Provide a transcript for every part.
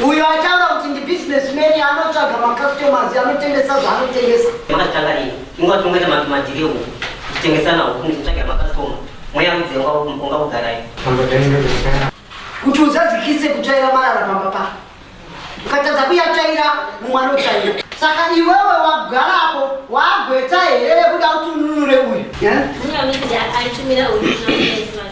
Uyo ataura kuti ndi business man anotsvaga ma customers anotengesa zvaanotengesa. Makatanga nei? Inga tongoita ma ma deal uku. Tichitengesana uku kuti titsvage ma customer. Mweya udze unga unga ugarai. Kuti uzadzikise kutsvaira marara pamba pa. Ukatadza kuyatsvaira mumwe anotsvaira. Saka iwewe wagara apo wagweta here kuda kuti ununure uyu. Yeah? Mimi amekuja alitumira original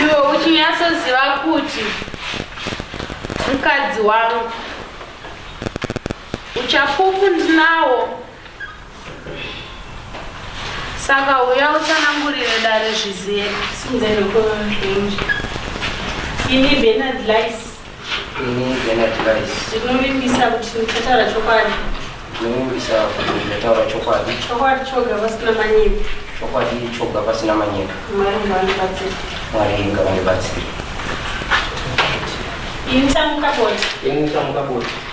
iwe uchinyatsoziva kuti mukadzi wangu uchapupu ndinawo saka uya utsanangurire dare zvizive sinzenokoa zvinji ini benard lice Ndinovimbisa kuti ndichataura chokwadi. Ndinovimbisa kuti ndichataura chokwadi. Chokwadi choga pasina manyepo. Chokwadi choga pasina manyepo. Mwari ngavandibatsire. Mwari ngavandibatsire. Ini chamuka bota. Ini chamuka bota.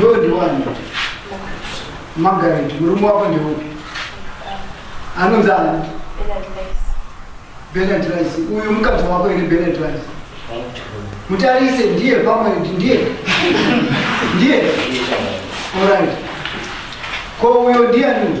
Iwewe ndiwani? Margaret, murume wako ndeupi? Anonzi ani? Bernard Rice. Uyu mukadzi wako here Bernard Rice? Mutarise ndiye pamwe ndiye. Ndiye. Alright. Ko uyo ndiani?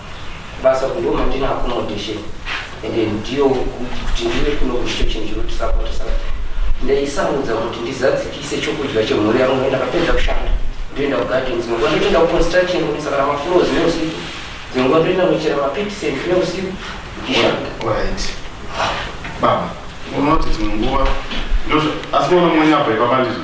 kubasa uku ndo mandina accommodation ende ndiyo kuti ndive kuno kuti icho chinhu chinotisapota saka ndaisamudza kuti ndizadzikise chokudya chemhuri yangu ndoenda kapedza kushanda ndoenda kugarden dzimwe nguva ndotoenda kuconstruction kunisa kana mafloors neusiku dzimwe nguva ndoenda kunochera mapitisend neusiku ndichishanda Right. Baba, unoti dzimwe nguva ndozvo asi unoona mwenye abva ipapa ndizvo.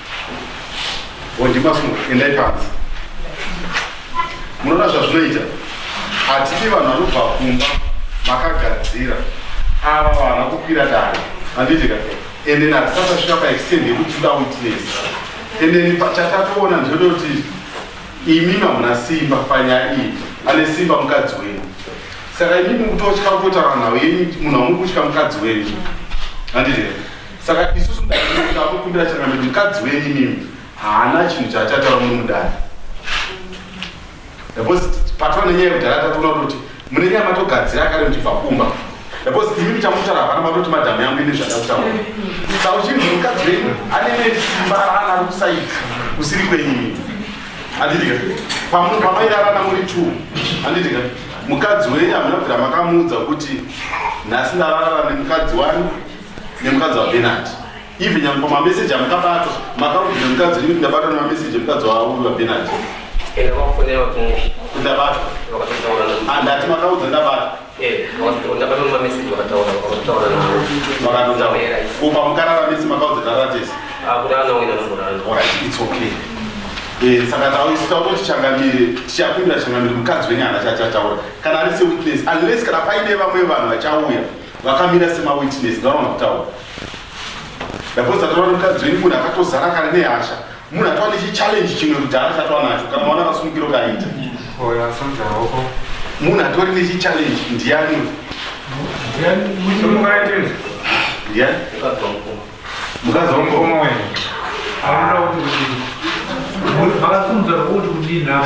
Wondimasumo, endai panze. Munoona zvazvinoita? Hatidi vanhu vanobva kumba makagadzira ava vana kukwira dare handitika ende natisasasvika paextend yekuti toda witness ende chatatoona ndinoda kuti imi mamuna simba panyaya iyi ane simba mukadzi wenyu saka imi mukutotya kutaura nhau yenyu munhu amukutya mukadzi wenyu handitika saka isu sudaakukumbira changambe kuti mukadzi wenyu imimi haana chinhu chaachataura muno mudare because patova nenyaya yekudhara tatoona kuti mune nyaya matogadzira kare muchibva kumba because imimi chamutaura hapana matoti madhamu yangu ine zvandakutaura saka uchinzi mukadzi wenyu anene simba raana ari kusaidi kusiri kwenyimi anditika pamunhu pamairarana muri two anditika mukadzi wenyu hamuna bvira makamuudza kuti nhasi ndararana nemukadzi wani nemukadzi wabenard even nyangwe pamameseji amukabata makaudza nemukadzi ini ndabatwa nemameseji emukadzi wauyu wabenard ndabatwa andati ah, makaudza ndabatwa kupa mukarara mese makaudza taratesi it's okay Eh, saka tautaura kuti changamire tichapindura changamire mukadzi wenyu hana chachataura kana ari sewitness unless kana paine vamwe vanhu vachauya vakamira semawitness ndaona kutaura ndapoza taura nemukadzi wenyu munhu akatozara kare nehasha munhu atova nechichallenji chimwe kudhara chatova nacho kana maona akasunukiro kaita munhu atori nechichallenji ndiyani ndiyani mukadzi wamukoma wenyu vakafunza kuti kudii navo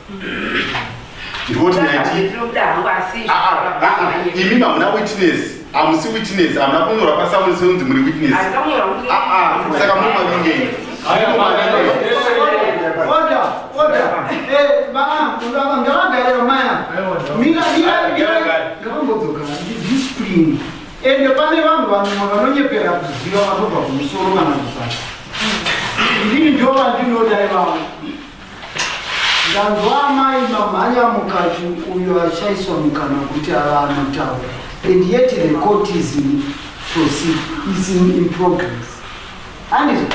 ndikuti imi mamuna witness amusi witness amuna kunyora pasauri seunzi muri witness saka muri mavingei ende pane vanhu vanuma vanonyepera kuziva vanobva kumusoro kana kuzasi ndini ndovandinoda ivavo Ndanzwa amai mamhanya mukati uyo achaiswa mukana kuti ava anotaura and yet the court is in proceed is in, in progress handizvo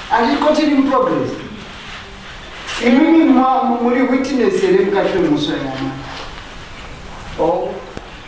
handiti court iri in progress imimi muri witness here mukati wemuswa yamai oh.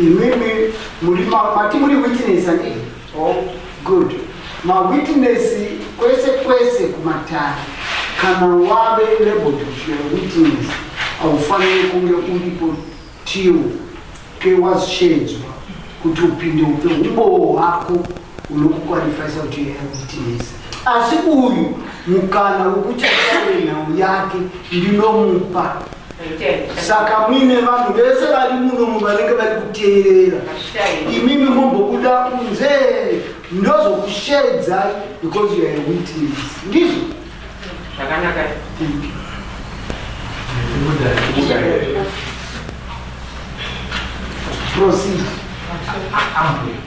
Imimi muri mati muri witness ane. Oh, good. Ma witness kwese kwese kumatare. Kana wave labeled kuti you're a witness, haufanire kunge uripo till ke wazosheedzwa kuti upinde upe umbowo hwako unokukwalifaisa kuti uyakutinesa asi uyu mukana wokuti ataure nhau yake ndinomupa saka muine vanhu vese vari munomu vanenge vari kuteerera imimi mombobuda kunze ndozokushedzai because you are a witness ndizvo zvakanaka proceed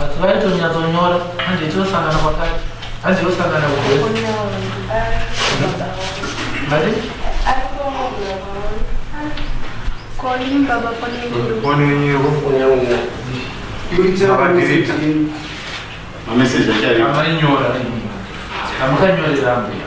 asi vaitonyatsonyora hanzi yetosangana kwakati hanzi yosangana kuamainyora amakanyorera ambuya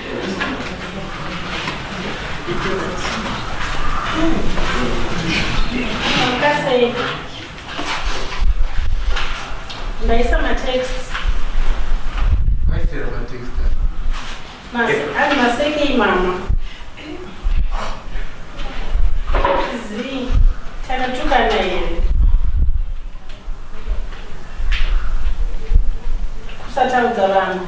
ndaisa matext aisera matext ari maseke imama zi takatukana here kusataudza vanhu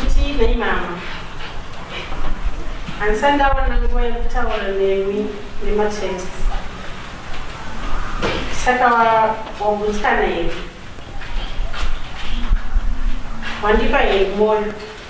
Kutii mama? Handisati ndawana nguva yekutaura nemi nematext. Saka wagutsikana here? Wandipa here mwoyo?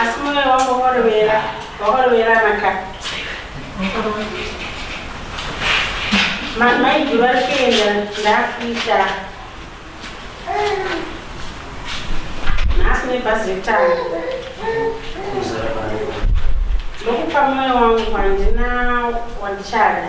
Asi moyo wangu wakarovera, wakarovera maka. Mama idi vari kuenda ndafita. Nhasi nebhazi rekutanga. Ndokupa moyo wangu handina wandichada.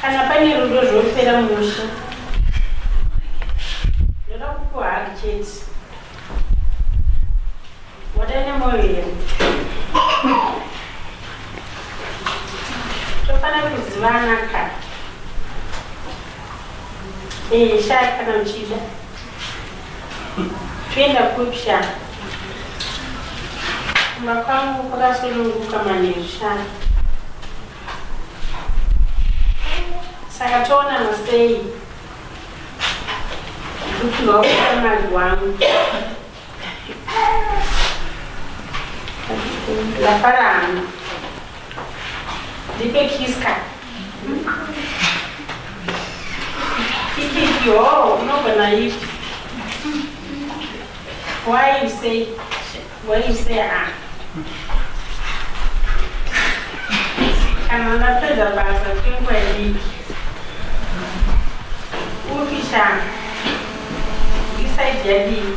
kana pane rudo zvopera musha ndoda kupiwa haki chete wadaine moyo here tofanira kuzivana ka ee shaya kana uchida Toenda kupi sha? Kumba kwangu kwakasununguka manheru sha. Saka toonana sei? Ndikupihwa ukamari wangu. Ndafara hangu. Ndipe kiss ka. Yo, unogona ipi? Why you say, why you say ah? Kana ndapedza basa kwenguva diki. Upi shanga? Isaidi yadii?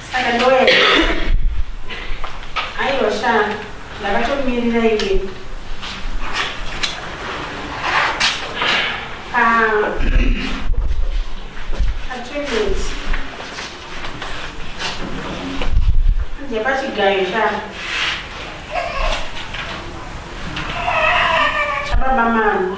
Saka ndoenda. Aiwa sha, ndakatomirira iwe. Ah. Atwendezi. Anje pachigayo sha. Chababa mama.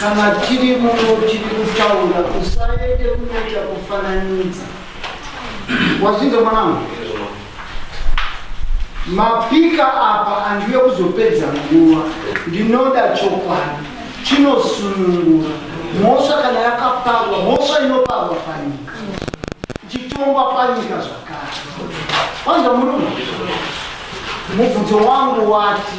Kana tiri muno tiri kutaura usaende kunoita kufananidza. Wazvinzwa mwanangu? Mapika apa andiwe kuzopedza nguva. Ndinoda chokwadi chinosunungura mhosva kana yakaparwa mhosva inoparwa panyika ichitongwa panyika zvakare. Wanzwa murume? Mubvunzo wangu wati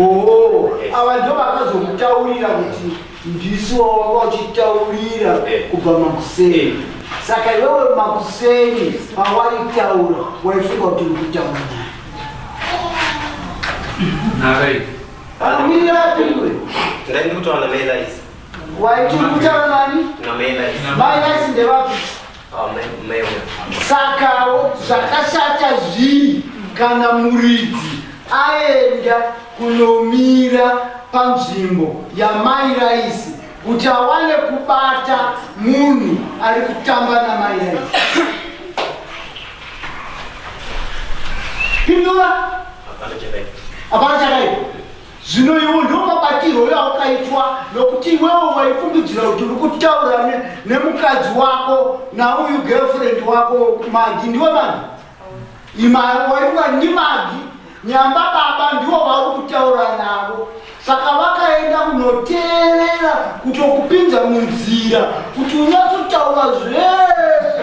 Oh, ava ndo vakazomutaurira kuti ndisu wawanga uchitaurira eh. kubva makuseni eh. saka iwewe makuseni pawaitaura waifunga kuti uri kutaura naye waiti kutaura nani mai nasi ndevapi Sakawo zvakashata zvii kana muridzi aenda kunomira panzvimbo yamai Raisi kuti awane kubata munhu ari kutamba namai Raisi? Pindura. Hapana chakaipa. Zvino iwo ndiwo mabatirwo yaukaitwa, nokuti iwewo waifungidzira kuti uri kutaura ne, nemukadzi wako nauyu girlfriend wako Magi, ndiwe Magi? Ima waifunga ndi Magi, nyamba baba ndiwo vauri kutaura navo. Saka vakaenda kunoteerera kutokupinza munzira kuti unyatsotaura zvese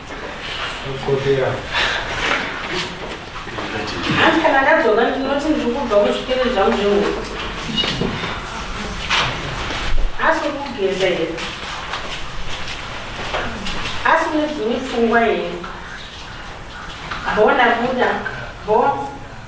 Hanzi kana ndadzoka ndinoti ndiri kubva kuzvikere zvangu zvehuku. Asi kugeza here? Asi une dzimwe pfungwa here? Bho ndabuda. Bho.